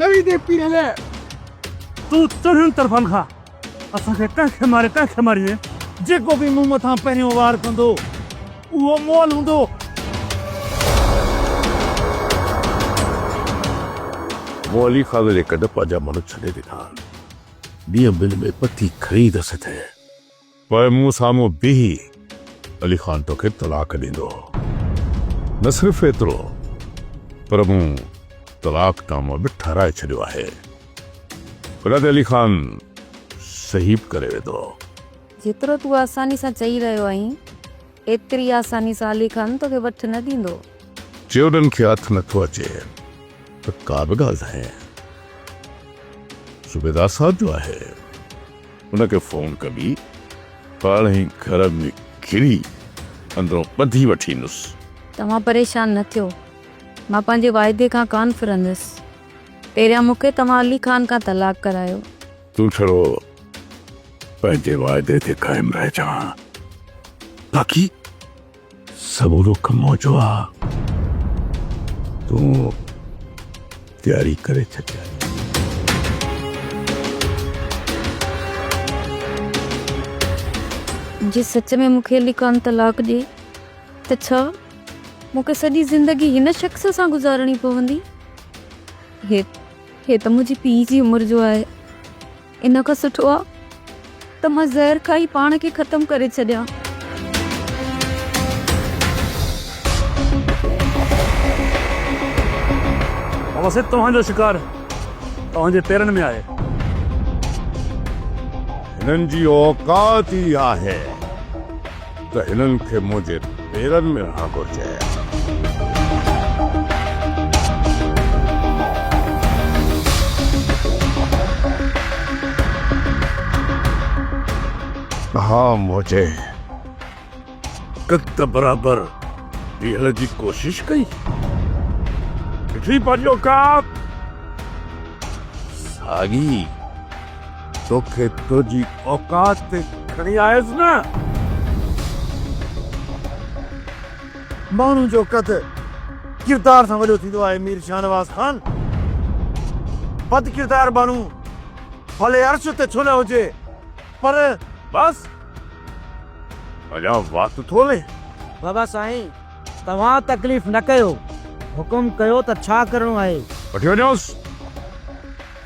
نوي دي پيڙهي لي تون چرين طرفن کان اسان کي ڪنهن کي ماري ڪنهن کي ماري جيڪو به مون مٿان پهريون وار ڪندو اهو مول هوندو مولي خان ليڪ ڊپ جا ماڻهو ڇڏي ڏنا ڏينهن ٻن ۾ پتي خريد سٿي پوء مون سامهون بيهي علي خان توکي طلاق ڏيندو هو. نه صرف ايترو پر مون طلاق نامو به ٺهرائي ڇڏيو آهي. ان تي علي خان صحيح به ڪري ويندو هو. جيترو تون آساني سان چئي رهيو آهين. ايتري آساني سان علي خان توکي وٺ نه ڏيندو. چيوڏن کي هٿ نه ٿو اچي ته ڪا به ڳالهه ناهي. صوبيدار صاحب جو آهي. ان کي فون ڪبي پاڻ ئي گهر ۾ گهري اندرون ٻڌي وٺي ايندس. توهان پريشان نه ٿيو. مان پنهنجي واعدي کان ڪانه ڦرندس. پهريان مون کي توهان علي خان کان طلاق ڪرايو. تون ڇڙو پنهنجي وعدي تي قائم رهجان باقي سڀ حڪم منهنجو آ تون تياري ڪري ڇڏ جي سچ ۾ مونکي علي خان طلاق ڏي ته ڇا مونکي سڄي زندگي هن شخص سان گذارڻي پوندي هي هي ته منهنجي پيء جي عمر جو آهي، ان کان سٺو آهي ته مان زهر کائي پاڻ کي ختم ڪري ڇڏيان. بابا سيد توهان جو شڪار توهان جي پيرن ۾ آهي. هنن جي اوقات ئي آهي. ته هنن کي منهنجي پيرن ۾ رهڻ گهرجي ۽ اسان ها منهنجي قد برابر بيهڻ جي ڪوشش ڪئي ڏٺئي پنهنجي اوقات ساڳي توکي تنهنجي اوقات تي کڻي آيس نه! ماڻهن جو قد ڪردار سان وڏو ٿيندو آهي مير شاهنواز خان! بد ڪردار ماڻهو ڀلي عرش تي ڇو نه هجي پر. بس! اڃا وات ٿو هلي. بابا سائين توهان تڪليف نه ڪيو. حڪم ڪيو ته ڇا ڪرڻو آهي. وٺي وڃوس!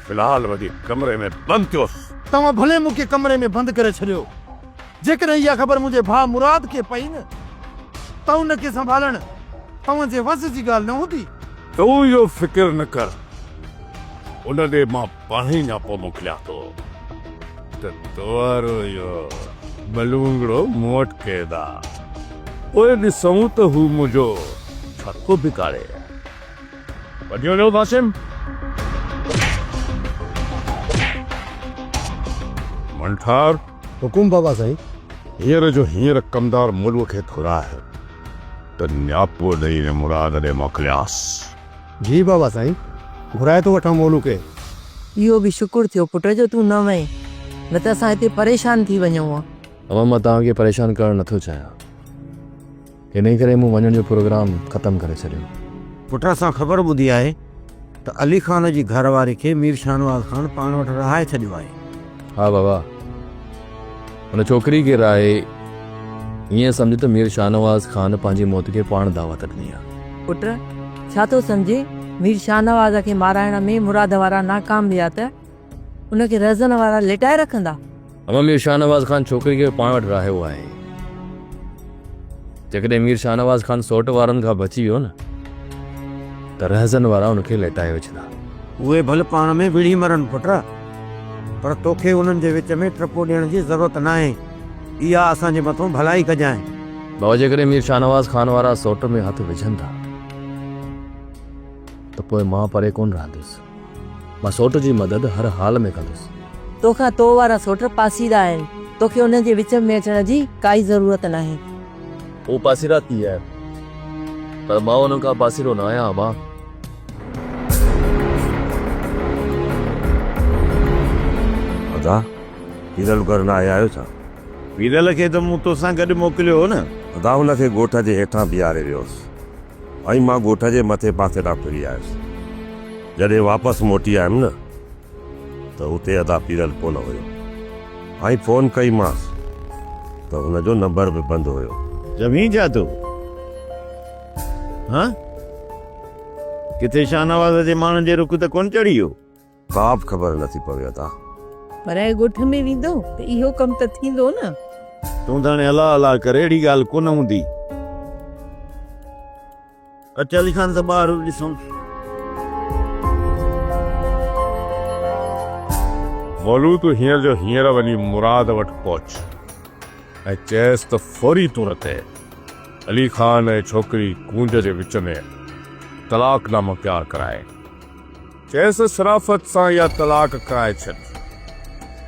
في الحال وڃي ڪمري ۾ بند ٿيوس. توهان ڀلي مون کي ڪمري ۾ بند ڪري ڇڏيو. جيڪڏهن اها خبر منهنجي ڀاء مراد کي پئي نه ته ان کي سنڀالڻ توهان جي وس جي ڳالهه نه هوندي. تون اهو فڪر نه ڪر. ان ڏي مان پاڻ ئي نياپو موڪليان ٿو ته توهارو اهو بلونگڙو مون وٽ قيد آ. پوء ڏسون ته هو منهنجو ڇا ٿو بگاڙي. وڌيو ويو قاسم. منٺار. حڪم بابا سائين. هينئر جو هينئر ڪمدار ملوء کي گهرائي ته نياپو ڏئي ۽ مراد ڏي موڪليانس. جي بابا سائين. گهرائي ٿو وٺان مولو کي. اهو به شڪر ٿيو پٽ جو تون نه وئين نه ته اسان هتي پريشان ٿي وڃون ها. اما مان توهان کي پريشان ڪرڻ نه ٿو چاهيان. انهي ڪري مون وڃڻ جو پروگرام ختم ڪري ڇڏيو. پٽ اسان خبر ٻڌي آهي ته علي خان جي گهر واري کي مير شاهنواز خان پاڻ وٽ رهائي ڇڏيو آهي. ها بابا ان ڇوڪري کي رهائي ائين سمجهه ته مير شاهنواز خان پنهنجي موت کي پاڻ دعوت ڏني آهي. پٽ ڇا ٿو سمجهين مير شاهنواز کي مارائڻ ۾ مراد وارا ناڪام ويا ته ان کي رهزن وارا لٽائي رکندا. امام مير شاهنواز خان ڇوڪري کي پاڻ وٽ راهيو آهي. جيڪڏهن مير شاهنواز خان سوٽ وارن کان بچي ويو نه ته رهزن وارا ان کي لٽائي وجهندا. اهي ڀل پاڻ ۾ وڙهي مرن پٽ، پر توکي انهن جي وچ ۾ ٽپو ڏيڻ جي ضرورت ناهي. اها اسان جي مٿو ڀلائي ڪجانء. بابا جيڪڏهن مير شاهنواز خان وارا سوٽ ۾ هٿ وجهن ٿا ته پوء مان پري ڪونه رهندس. مان سوٽ جي مدد هر حال ۾ ڪندس. تو کان تو وارا سوٽ پاسيرا آهن. تو کي انهن جي وچ ۾ اچڻ جي ڪائي ضرورت ناهي. هو پاسيرا ٿي آيا پر مان انهن کان پاسيرو نه آهيان امان. ادا! ويرل گهر نه آيا آهيو ڇا؟ ويرل کي ته مون توسان گڏ موڪليو هو نه. ادا هن کي ڳوٺ جي هيٺان بيهاري ويو هوس. ۽ مان ڳوٺ جي مٿي پاسي ڏانهن ڦري آيس. جڏهن واپس موٽي آيم نه ته اتي ادا پيرل ڪونه هيو ۽ فون ڪئي مانس ته هن جو نمبر به بند هيو. زمين ڇا ٿو هان؟ ڪٿي شاهنواز جي ماڻهن جي رخ ته ڪونه چڙهي ويو؟ ڪا به خبر نه ٿي پوي ادا. پر ائين ڳوٺ ۾ ويندو ته اهو ڪم ته ٿيندو نه. تون ته هاڻي الا الا ڪر اهڙي ڳالهه ڪونه هوندي. اچ علي خان سان ٻاهر ڏسون. مولو تون هينئر جو هينئر وڃي مراد وٽ پهچ ۽ چئس ته فوري طور تي علي خان ۽ ڇوڪري ڪونج جي وچ ۾ طلاق نامو تيار ڪرائي. چيس شرافت سان يا طلاق ڪرائي ڇڏ،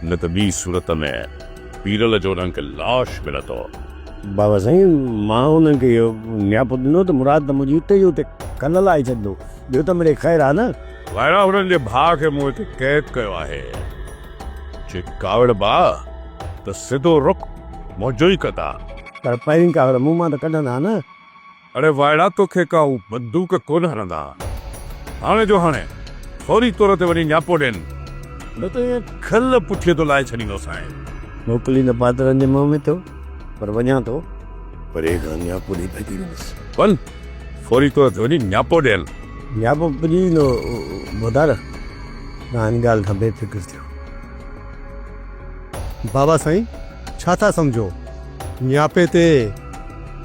نه ته ٻي صورت ۾ پيرل جو رنگ لاش ملندو. بابا سائين مان انهن کي اهو نياپو ڏنو ته مراد ته منهنجي اتي جو اتي کل لائي ڇڏندو، ٻيو ته مڙئي خير آهي نه. وائڙا هنن جي ڀاء کي مون هتي قيد ڪيو آهي، جي ڪاوڙبا ته سڌو رخ منهنجو ئي ڪندا. پر پهرين ڪاوڙ مون مان ته ڪڍندا نه. اڙي وائڙا توکي ڪا هو بندوق ڪونه هڻندا هاڻي جو هاڻي فوري طور تي وڃي نياپو ڏين نه ته ائين کل پٺيء تان لاهي ڇڏيندوسانء. موڪليندو پادرن جي منهن ۾ ٿو پر وڃان ٿو پري کان نياپو ڏئي ڀڄي ويندس. وڃ فوري طور تي وڃي نياپو ڏين. نياپو پڄي ويندو ڀوتار تون ان ڳالهه کان بي فڪر ٿيو. بابا سائين ڇا ٿا سمجهو نياپي تي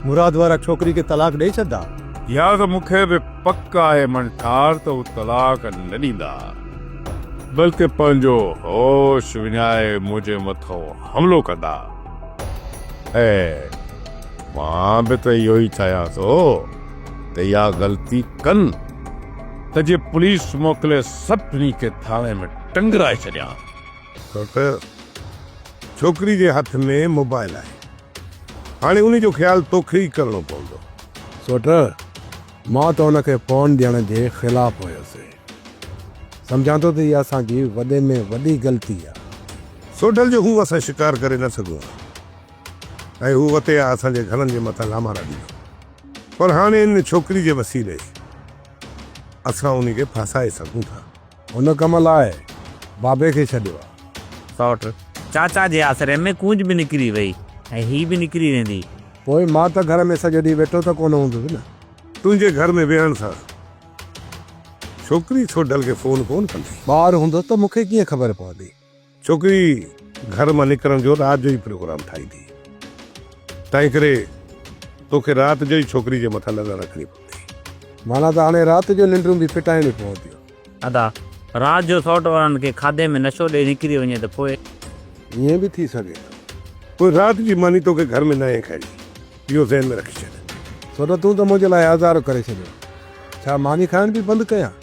مراد وارا ڇوڪري کي طلاق ڏئي ڇڏدا. يا ته مون کي به پڪ آهي منٺار ته هو طلاق نه ڏيندا بلڪه پنهنجو هوش وڃائي منهنجي مٿو حملو ڪندا. خير مان به ته اهو ئي چاهيان ٿو ته اها غلطي ڪن ته جي پوليس موڪلي سڀني کي ٿاڻي ۾ ٽنگرائي ڇڏيان. ڇو ته ڇوڪري جي هٿ ۾ موبائل آهي. هاڻي انهي جو خيال توکي ئي ڪرڻو پوندو. سوٽ، مان ته ان کي فون ڏيڻ جي خلاف هيس. سمجهان ٿو ته اها اسان جي وڏي ۾ وڏي غلطي آهي. سوٽل جو هو اسان شڪار ڪري نه سگهون ها ۽ هو اتي آ اسان جي گهرن جي مٿان لامارا ڏيندو. پر هاڻي ان ڇوڪري جي وسيلي اسان انهي کي ڦاسائي سگهون ٿا. هن ڪم لاء بابي کي ڇڏيو آ. سئوٽ چاچا جي آسري ۾ ڪونج به نڪري وئي ۽ هي به نڪري ويندي. پوء مان ته گهر ۾ سڄو ڏينهن ويٺو ته ڪونه هوندس نه. تنهنجي گهر ۾ ويهڻ سان ڇوڪري ڇوٽل کي فون ڪونه ڪندي. ٻاهر هوندس ته مون کي ڪيئن خبر پوندي. ڇوڪري گهر مان نڪرڻ جو رات جو ئي پروگرام ٺاهي ٿي، تنهن ڪري توکي رات جو ئي ڇوڪري جي مٿان نظر رکڻي پوندي. معنيٰ ته هاڻي رات جو ننڊون به ڦٽائڻيون پونديون. ادا، رات جو سئوٽ وارن کي کاڌي ۾ نشو ڏئي نڪري وڃي ته پوء؟ ائين به ٿي سگهي ٿو. پوء رات جي ماني توکي گهر ۾ ناهي کائڻي، اهو ذهن ۾ رکي ڇڏ. سئوٽ تون ته منهنجي لاء آزار ڪري ڇڏيو. ڇا ماني کائڻ به بند ڪيان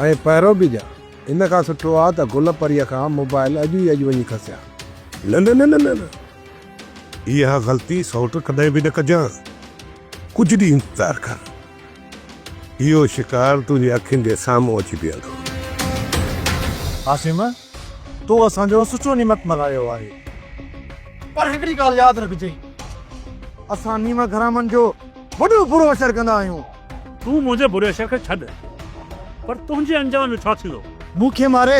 ۽ پهرو به ڏيان؟ ان کان سٺو آ ته گل پريء کان موبائل اڄ ئي اڄ وڃي کسيان. نه نه نه نه نه نه اها غلطي سئوٽ ڪڏهن به نه ڪجانء. ڪجهه ڏينهن انتظار ڪر. اهو شڪار تنهنجي اکين جي سامهون اچي بيهندو. عاصم تو اسان جو سچو نيمت ملهايو آهي. پر هڪڙي ڳالهه ياد رکجي اسان نيمه گهرامن جو وڏو برو اشر ڪندا آهيون. تون منهنجي بري شيء کي ڇڏ. پر تنهنجي انجام جو ڇا ٿيندو؟ مون کي ماري،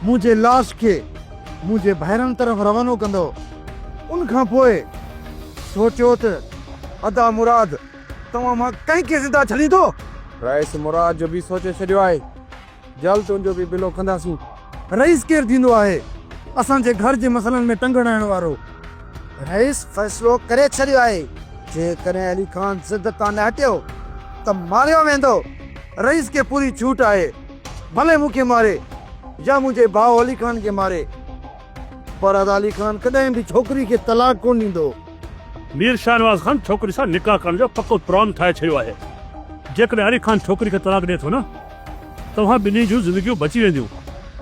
منهنجي لاش کي منهنجي ڀائرن طرف روانو ڪندو. ان کان پوء سوچيو ته ادا مراد توهان مان ڪنهن کي زنده ڇڏيندو؟ رئيس مراد جو به سوچي ڇڏيو آهي. جلد تنهنجو به بلو ڪنداسين. رئيس ڪير ٿيندو آهي اسان جي گهر جي مسئلن ۾ ٽنگ هڻائڻ وارو؟ رئيس فيصلو ڪري ڇڏيو آهي جيڪڏهن علي خان ضد تان نه هٽيو ته ماريو ويندو. رئيس کي پوري ڇوٽ آهي ڀلي مون کي ماري يا منهنجي ڀاء علي خان کي ماري. فرحت علي خان ڪڏهن به ڇوڪري کي طلاق ڪونه ڏيندو. مير شاهنواز خان ڇوڪري سان نڪاح ڪرڻ جو پڪو پران ٺاهي ڇڏيو آهي. جيڪڏهن علي خان ڇوڪري کي طلاق ڏئي ٿو نه توهان ٻنهي جون زندگيون بچي وينديون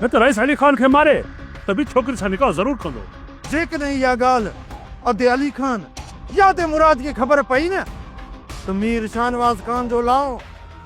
نه ته رئيس علي خان کي ماري ته به ڇوڪري سان نڪاح ضرور ڪندو. جيڪڏهن اها ڳالهه ادي علي خان يا ادي مراد کي خبر پئي نه ته مير شاهنواز خان جو لاء.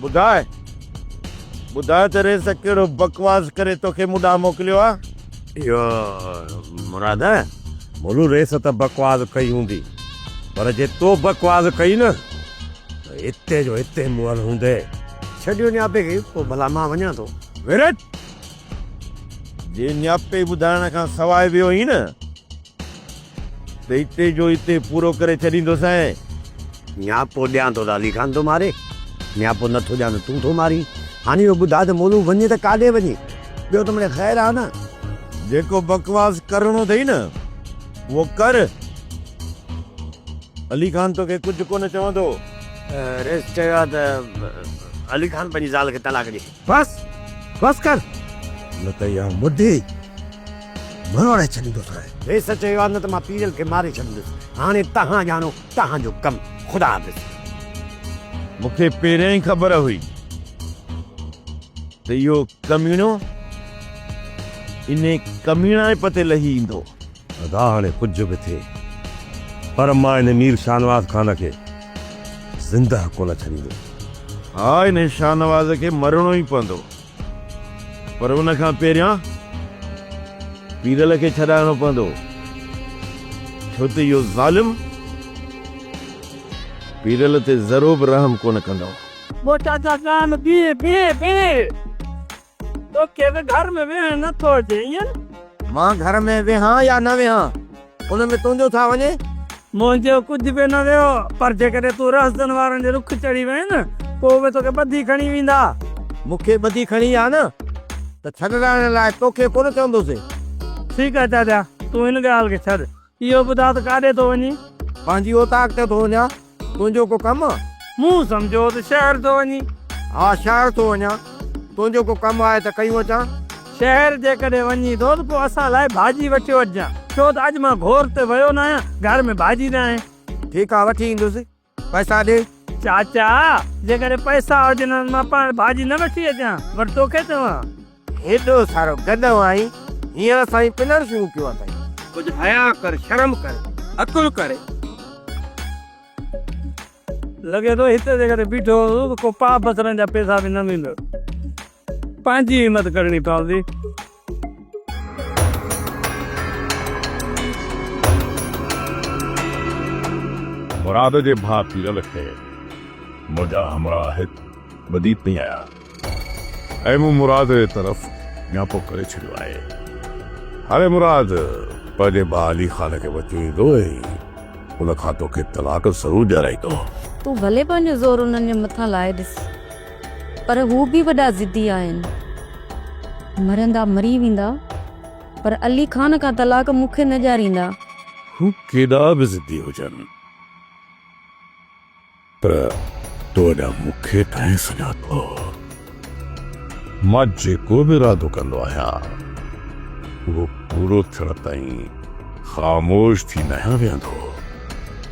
ٻڌاء ٻڌاء ته ريس ڪهڙو بڪواس ڪري توکي مون ڏانهن موڪليو آ. اهو مراد ملو ريس ته بڪواس ڪئي هوندي پر جي تو بڪواس ڪئي نه ته هتي جو هتي مئل هوندي. ڇڏيو نياپي کي پوء ڀلا مان وڃان ٿو. ويرت! جي نياپي ٻڌائڻ کان سواء ويو هئين نه. ته هتي جو هتي پورو ڪري ڇڏيندوسانء. نياپو ڏيان ٿو ته علي خان ٿو ماري، نياپو نه ٿو ڏيان ته تون ٿو مارين. هاڻي اهو ٻڌاء ته مولوء وڃي ته ڪاڏي وڃي؟ ٻيو ته مڙي خير آهي نه. جيڪو بڪواس ڪرڻو اٿئي نه، اهو ڪر. علي خان توکي ڪجهه ڪونه چوندو. رئيس چيو آهي ته علي خان پنهنجي زال کي طلاق ڏي. بس بس ڪر نه ته اها مڍي مروڙائي ڇڏيندوسانء. ويس چيو ها نه ته مان پيرل کي ماري ڇڏيندس. هاڻي توهان ڄاڻو توهان جو ڪم. خدا حافظ. مون کي پهريان ئي خبر هئي ته اهو ڪميڻو انهي ڪميڻائپ تي لهي ايندو. ادا هاڻي ڪجهه به ٿئي پر مان هن مير شاهنواز خان کي زندهه ڪونه ڇڏيندس. ها هن شاهنواز کي مرڻو ئي پوندو پر ان کان پهريان پيرل کي ڇڏائڻو پوندو ڇو ته اهو ظالم پيرل تي ذرو به رحم ڪونه ڪندو. ٻوٽا جا ڳال ٻيئي ٻيئي ٻيئي توکي به گهر ۾ ويهڻ نه ٿو اچي ائين؟ مان گهر ۾ ويهان يا نه ويهان ان ۾ تنهنجو ڇا وڃي؟ منهنجو ڪجهه به نه ويو پر جيڪڏهن تون رهزن وارن جي رخ چڙهي وئين نه پوء اهي توکي ٻڌي کڻي ويندا. مون کي ٻڌي کڻي ويا نه ته ڇڏرائڻ لاء توکي ڪونه چوندوسين. ٺيڪ آهي چاچا تون هن ڳالهه کي ڇڏ. اهو ٻڌاء ته ڪاڏي ٿو وڃين؟ پنهنجي اوطاق ته ٿو وڃان، تنهنجو ڪو ڪم؟ مون سمجهيو ته شهر ٿو وڃين. ها شهر ٿو وڃان، تنهنجو ڪو ڪم آهي ته ڪيون اچان. شهر جيڪڏهن وڃين ٿو ته پوء اسان لاء ڀاڄي وٺيو اچجان، ڇو ته اڄ مان گهور تي ويو ناهيان، گهر ۾ ڀاڄي ناهي. ٺيڪ آهي وٺي ايندس. پئسا ڏي. چاچا جيڪڏهن پئسا هجن ها ته مان پاڻ ڀاڄي نه وٺي اچان ور توکي چوان. هيڏو سارو گڏهو آهين هينئر سائين پنڻ شروع ڪيو اٿئي. ڪجهه حياء ڪر شرم ڪر عقل ڪر. لڳي ٿو هتي جيڪڏهن بيٺو هوندو ته ڪو پاء بصرن جا پئسا به نه ويندو. پنهنجي همت ڪرڻي پوندي. مراد جي ڀاء پيرل کي منهنجا همراهت ٻڌي پئي آيا ۽ مون مراد جي طرف نياپو ڪري ڇڏيو آهي. هاڻي مراد پنهنجي ڀاء علي خان کي وچ ويندو ۽ ان کان توکي طلاق ضرور ڏيارائيندو. تون ڀلي پنهنجو زور انهن جي مٿان لائي ڏس. پر هو به وڏا ضدي آهن. مرندا مري ويندا پر علي خان کان طلاق مون کي نه ڏياريندا. هو ڪيڏا به ضدي هجن پر تو اڏا مون کي ڪنهن سڃاتو؟ مان جيڪو به ارادو ڪندو آهيان اهو پورو ٿيڻ تائين خاموش ٿي ناهيان ويهندو.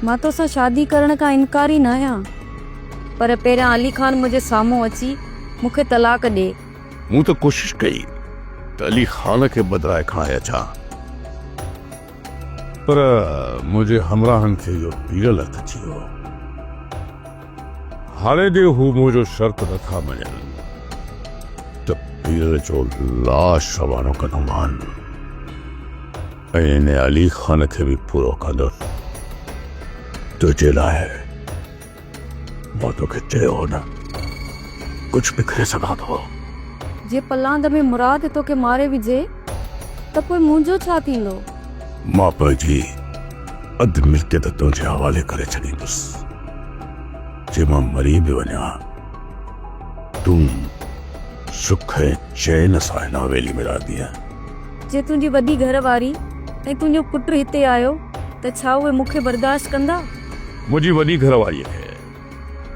مان توسان شادي ڪرڻ کان انڪاري ناهيان. پر پهريان علي خان منهنجي سامهون اچي مون کي طلاق ڏي. مون ته ڪوشش ڪئي ته علي خان کي بدرائي کڻائي اچان، پر منهنجي همراهن کي اهو پيڙل هٿ ٿي ويو. هاڻي جي هو منهنجو شرط نه ٿا مڃن ته پيڙل جو لاش روانو ڪندومان ۽ ان علي خان کي به پورو ڪندس تنهنجي لاء. مون توکي چيو هو نه ڪجهه به ڪري سگهان ٿو. جي پلاند ۾ مراد توکي ماري وجهي ته پوء منهنجو ڇا ٿيندو؟ مان پنهنجي اڌ ملڪيت تنهنجي حوالي ڪري ڇڏيندس. جي مان مري به وڃان تون سک ۽ چين سان هن حويلي ۾ رهندينء. جي تنهنجي وڏي گهر واري ۽ تنهنجو پٽ هتي آيو ته ڇا اهي مون کي برداشت ڪندا؟ منهنجي وڏي گهر واريء کي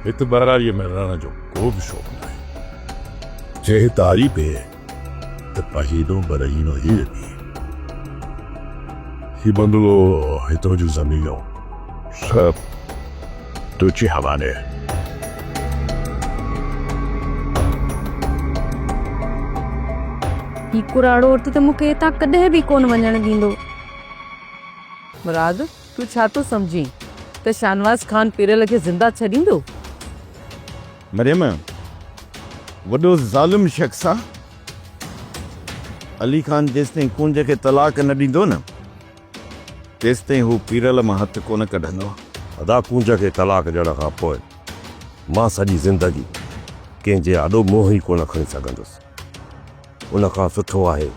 هت ٻهراڙيء ۾ رهڻ جو ڪو به شوق ناهي. چيهي تاري پئي ته پهينو برهينو هي لڳي. هي بنگلو، هتان جون زمينون سڀ تنهنجي حوالي. هي ڪراڙو هٿ ته مون کي هتان ڪڏهن به ڪونه وڃڻ ڏيندو. مراد! تون ڇا ٿو سمجهين ته شاهنواز خان پيرل کي زنده ڇڏيندو؟ مريم، وڏو ظالم شخص آ. علي خان جيستائين ڪونج کي طلاق نه ڏيندو نه تيستائين هو پيرل مان هٿ ڪونه ڪڍندو. ادا ڪونج کي طلاق ڏيڻ کان پوء مان سڄي زندگي ڪنهن جي آڏو منهن ئي ڪونه کڻي سگهندس. ان کان سٺو آهي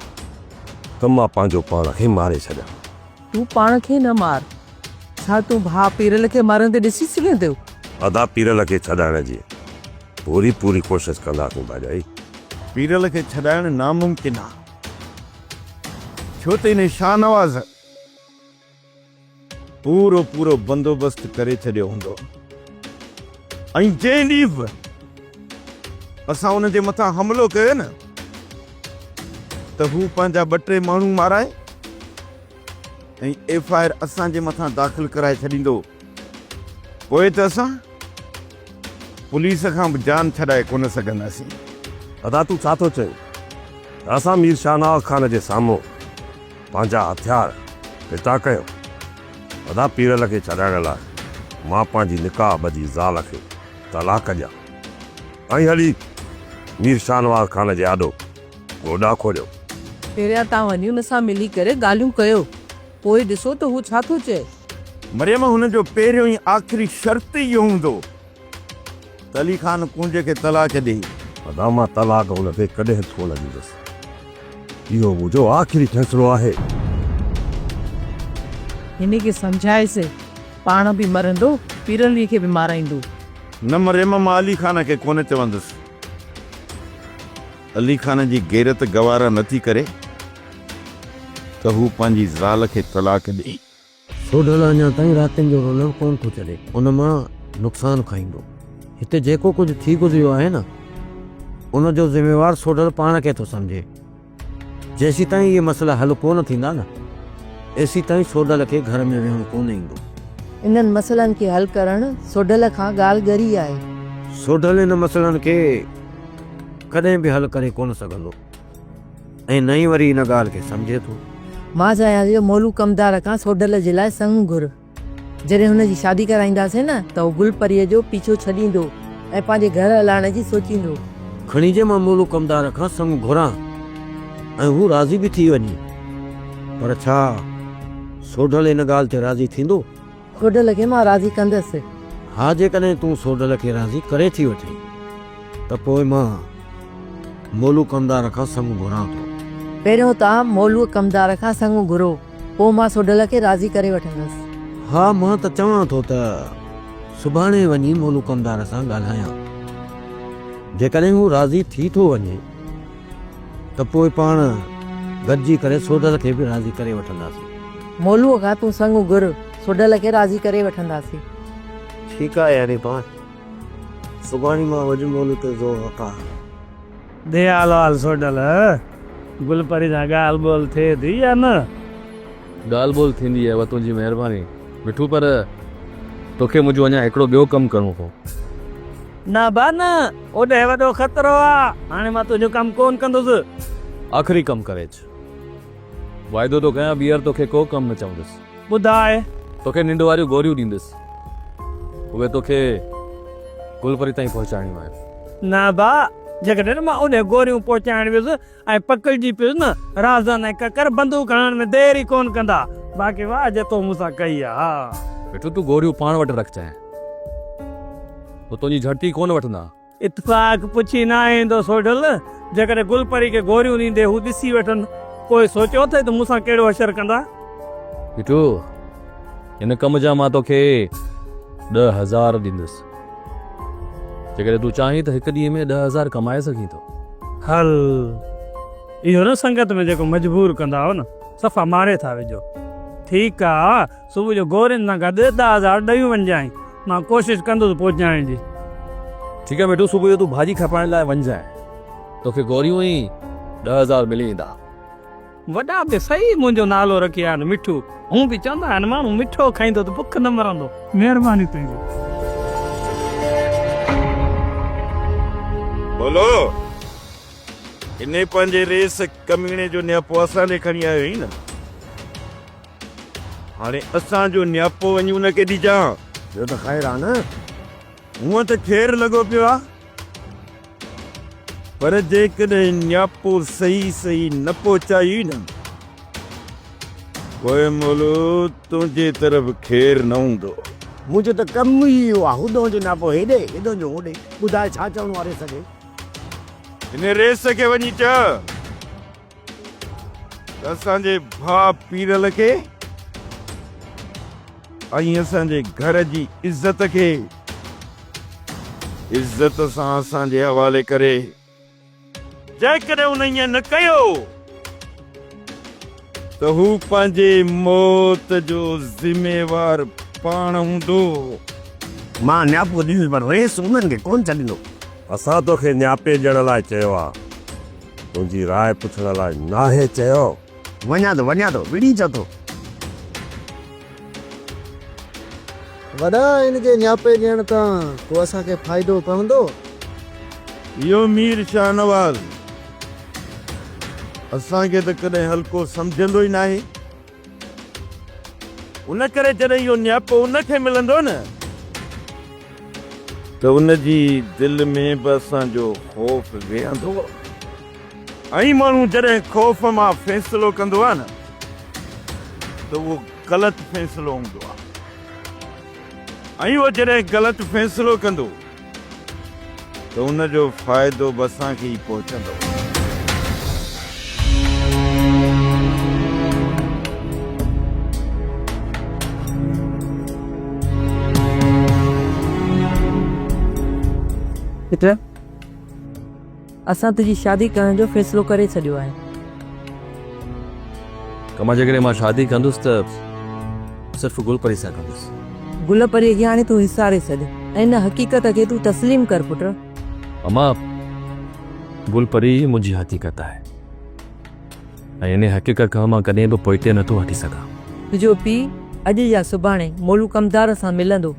ته مان پنهنجو پاڻ کي ماري ڇڏيان. تون پاڻ کي نه مار. ڇا تون ڀاء پيرل کي مرندي ڏسي سگهين ٿيو؟ ادا پيرل کي ڇڏائڻ جي پوري پوري ڪوشش ڪنداسين ڀاڄائي. پيرل کي ڇڏائڻ ناممڪن آ ڇو ته انهي شاهنواز پورو پورو بندوبست ڪري ڇڏيو هوندو ۽ جنهن ڏينهن به اسان ان جي مٿان حملو ڪيو نه. ته هو پنهنجا ٻه ٽي ماڻهو مارائي ۽ ايف آء آر اسان جي مٿان داخل ڪرائي ڇڏيندو پوء ته اسان پوليس کان به جان ڇڏائي ڪونه سگهنداسين. ادا تون ڇا ٿو چوين ته اسان مير شاهنواز خان جي سامهون پنهنجا هٿيار ڦتا ڪيون ادا پيرل کي ڇڏائڻ لاء مان پنهنجي نڪاح ٻڌي زال کي طلاق ڏيان. ائين هلي مير شاهنواز خان جي آڏو گوڏا کوڙيو. پهريان تان هنيون سان ملي ڪري ڳالهيون ڪيو، پوء ڏسو ته هو ڇا ٿو چئي. مريم هن جو پهريون ۽ آخري شرط ئي اهو هوندو ته علي خان ڪونجي کي طلاق ڏئي. ادا مان طلاق هن کي ڪڏهن ڪونه ڏيندس. اهو منهنجو آخري فيصلو آهي. هن کي سمجهائيس، پاڻ به مرندو، پيرلويء کي به مارائيندو. نه مريم مان علي خان کي ڪونه چوندس. علي خان جي غيرت گوارا نه ٿي ڪري ته هو پنهنجي زال کي طلاق ڏئي. سوڍل اڃا تائين راتين جو رلڻ ڪونه ٿو ڇڏي. ان مان نقصان کائيندو. هتي جيڪو ڪجهه ٿي گذريو آهي نه ان جو ذميوار سوڍل پاڻ کي ٿو سمجهي. جيسيتائين اهي مسئلا حل ڪونه ٿيندا نه ايسيتائين سوڍل کي گهر ۾ ويهڻو ڪونه ايندو. انهن مسئلن کي حل ڪرڻ سوڍل کان ڳالهه ڳري آهي. سوڍل ان مسئلن کي ڪڏهن به حل ڪري ڪونه سگهندو ۽ نه ئي وري ان ڳالهه کي سمجهي ٿو. مان چاهيان ٿي جو مولو ڪمدار کان سوڍل جي لاء سڱ گهر. جڏهن هن جي شادي ڪرائينداسين نه ته هو گل پريء جو پيڇو ڇڏيندو ۽ پنهنجي گهر هلائڻ جي سوچيندو. کڻي جي مان مولو ڪمدار کان سڱ گهران ۽ هو راضي به ٿي وڃي. پر ڇا سوڍل ان ڳالهه تي راضي ٿيندو؟ سوڍل کي مان راضي ڪندس. ها جيڪڏهن تون سوڍل کي راضي ڪري ٿي وٺين ته پوء مان مولو ڪمدار کان سڱ گهران ٿو. پهريون توهان مولو ڪمدار کان سڱ گهرو. پوء مان سوڍل کي راضي ڪري وٺندس. ها مان ته چوان ٿو ته سڀاڻي وڃي مولوڪمدار سان ڳالهايان. جيڪڏهن هو راضي ٿي ٿو وڃي ته پوء پاڻ گڏجي ڪري سوڍل کي به راضي ڪري وٺنداسين. مولوء کان تون سڱ گهر، سوڍل کي راضي ڪري وٺنداسين. ٺيڪ آهي، هري پاڻ سڀاڻي مان وڃي مولوء تي زور رکان. ڏي آل آل سوڍل، گل پري سان ڳالهه ٻولهه ٿئي ٿي يا نه؟ ڳالهه ٻولهه ٿيندي اهي تنهنجي مهرباني مٺو پر توکي منهنجو اڃا هڪڙو ٻيو ڪم ڪرڻو پو. نه با نه، اوڏهي وڏو خطرو آ، هاڻي مان تنهنجو ڪم ڪون ڪندس. آخري ڪم ڪري اچ، واعدو ٿو ڪيان ٻيهر توکي ڪو ڪم نه چوندس. ٻڌاء توکي ننڊ واريون گوريون ڏيندس اهي توکي گلپري تائين پهچائڻيون آهن. نه ڀاء جيڪڏهن مان اوڏي گوريون پهچائڻ ويس ۽ پڪڙجي پيس نه رازن ۽ ڪڪر بندوق هڻڻ ۾ دير ئي ڪونه ڪندا. باقي واهه جي تو مون سان ڪئي آهي. مٺو تون گوريون پاڻ وٽ رک چانهن هو تنهنجي جهڙتي ڪونه وٺندا. اتفاق پڇي نه ايندو سوڍل، جيڪڏهن گل پري کي گوريون ڏيندي هو ڏسي وٺن، پوء سوچيو اٿئي ته مون سان ڪهڙو حشر ڪندا؟ ڪٽو، هن ڪم جا مان توکي ڏهه هزار ڏيندس. جيڪڏهن تون چاهين ته هڪ ڏينهن ۾ ڏهه هزار ڪمائي سگهين ٿو. هل، اهو نه سنگت ۾ جيڪو مجبور ڪندا آهو نه، صفا ماري ٿا وجهو. ٺيڪ آ. صبح جو گورين سان گڏ ڏهه هزار ڏيون وڃجانء. مان ڪوشش ڪندس پهچائڻ جي. ٺيڪ آهي مٺو صبح جو تون ڀاڄي کپائڻ لاء وڃجانء. توکي گوريون ۽ ڏهه هزار ملي ويندا. وڏا به صحيح منهنجو نالو رکي ويا آهن مٺو. هونء به چوندا آهن ماڻهو مٺو کائيندو ته بک نه مرندو. مهرباني تنهنجي. ڀولو! انهي پنهنجي ريس ڪميڻي جو نياپو اسان ڏي کڻي آيو آهين نه؟ هاڻي اسان جو نياپو وڃي ان کي ڏجان. ٻيو ته خير آ نه. هونئن ته خير لڳو پيو آ. پر جيڪڏهن نياپو صحيح صحيح نه پهچايئي نه. پوء مولو تنهنجي طرف خير نه هوندو. منهنجو ته ڪم ئي اهو آ. هوڏانهن جو نياپو هيڏي، هيڏانهن جو هوڏي. ٻڌاء ڇا چوڻو آ ريس کي. هن ريس کي وڃي چئه. ته اسان جي ڀاء پيرل کي ۽ اسان جي گهر جي عزت کي عزت سان اسان جي حوالي ڪري جيڪڏهن ان ائين نه ڪيو ته هو پنهنجي موت جو ذميوار پاڻ هوندو. مان نياپو ڏيندس پر رئيس انهن کي ڪونه ڇڏيندو. اسان توکي نياپي ڏيڻ لاء چيو آهي. تنهنجي راء پڇڻ لاء ناهي چيو. وڃان ٿو وڃان ٿو وڙهي چئو ٿو. وڏا هن کي نياپي ڏيڻ تان ڪو اسان کي فائدو پوندو؟ اهو مير شاهنواز اسان کي ته ڪڏهن هلڪو سمجهندو ئي ناهي. ان ڪري جڏهن اهو نياپو ان کي ملندو نه ته ان جي دل ۾ به اسان جو خوف ويهندو. ۽ ماڻهو جڏهن خوف مان فيصلو ڪندو آهي نه ته اهو غلط فيصلو هوندو آهي. ۽ اهو جڏهن غلط فيصلو ڪندو ته ان جو فائدو به اسان کي ئي پهچندو. پٽ! اسان تنهنجي شادي ڪرڻ جو فيصلو ڪري ڇڏيو آهي. ڪما جيڪڏهن مان شادي ڪندس ته صرف گل پري سان ڪندس. گل پريء کي هاڻي تون وساري ڇڏ ۽ ان حقيقت کي تون تسليم ڪر پٽ. اما گل پري ئي منهنجي حقيقت آهي ۽ ان حقيقت کان مان ڪڏهن به پوئتي نٿو هٽي سگهان. تنهنجو پيء اڄ يا سڀاڻي مولو ڪمدار سان ملندو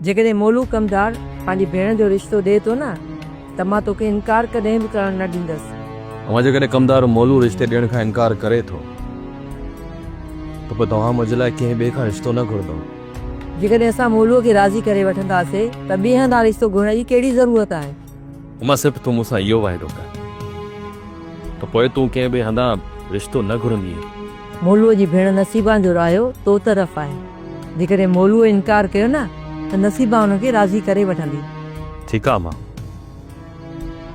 جيڪڏهن مولو ڪمدار پنهنجي ڀيڻ جو رشتو ڏئي ٿو نه ته مان توکي انڪار ڪڏهن به ڪرڻ نه ڏيندس. اما جيڪڏهن ڪمدار مولو رشتي ڏيڻ کان انڪار ڪري ٿو ته پوء توهان منهنجي لاء ڪنهن ٻئي کان رشتو نه گهرندو. جيڪڏهن اسان مولوء کي راضي ڪري وٺنداسين ته ٻئي هنڌان رشتو گهرڻ جي ڪهڙي ضرورت آهي؟ هما صرف تون مون سان اهو واعدو ڪر ته پوء تون ڪنهن ٻئي هنڌان رشتو نه گهرندينء. مولوء جي ڀيڻ نصيبان جو رايو تو طرف آهي. جيڪڏهن مولوء انڪار ڪيو نه ته نصيبان ان کي راضي ڪري وٺندي. ٺيڪ آهي هما.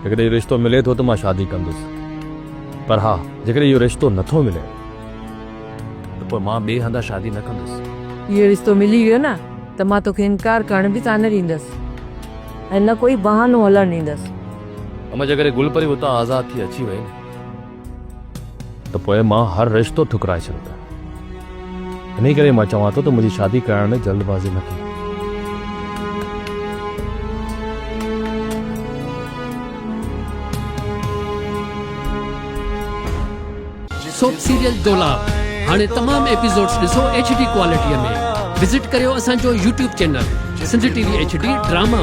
جيڪڏهن اهو رشتو ملي ٿو ته مان شادي ڪندس. پر ها جيڪڏهن اهو رشتو نه ٿو ملي ته پوء مان ٻئي هنڌان شادي نه ڪندس. اهو رشتو ملي ويو نه ته مان توکي انڪار ڪرڻ به ڪانه ڏيندس. ۽ نه ڪوئي بهانو هلڻ ڏيندس. اما جي ڪري گل پري اتان آزاد ٿي اچي وئي نه. ته پوء مان هر رشتو ٺڪرائي ڇڏندس. انهي ڪري مان چوان ٿو ته منهنجي شادي ڪرائڻ ۾ جلد بازي نه ڪجو. سوپ سيريل دولاب هاڻي تمام ايپيسوڊز ڏسو ايڇ ڊي ڪوالٽي ۾ وزٽ ڪريو اسان جو YouTube channel Sindh T V H D drama.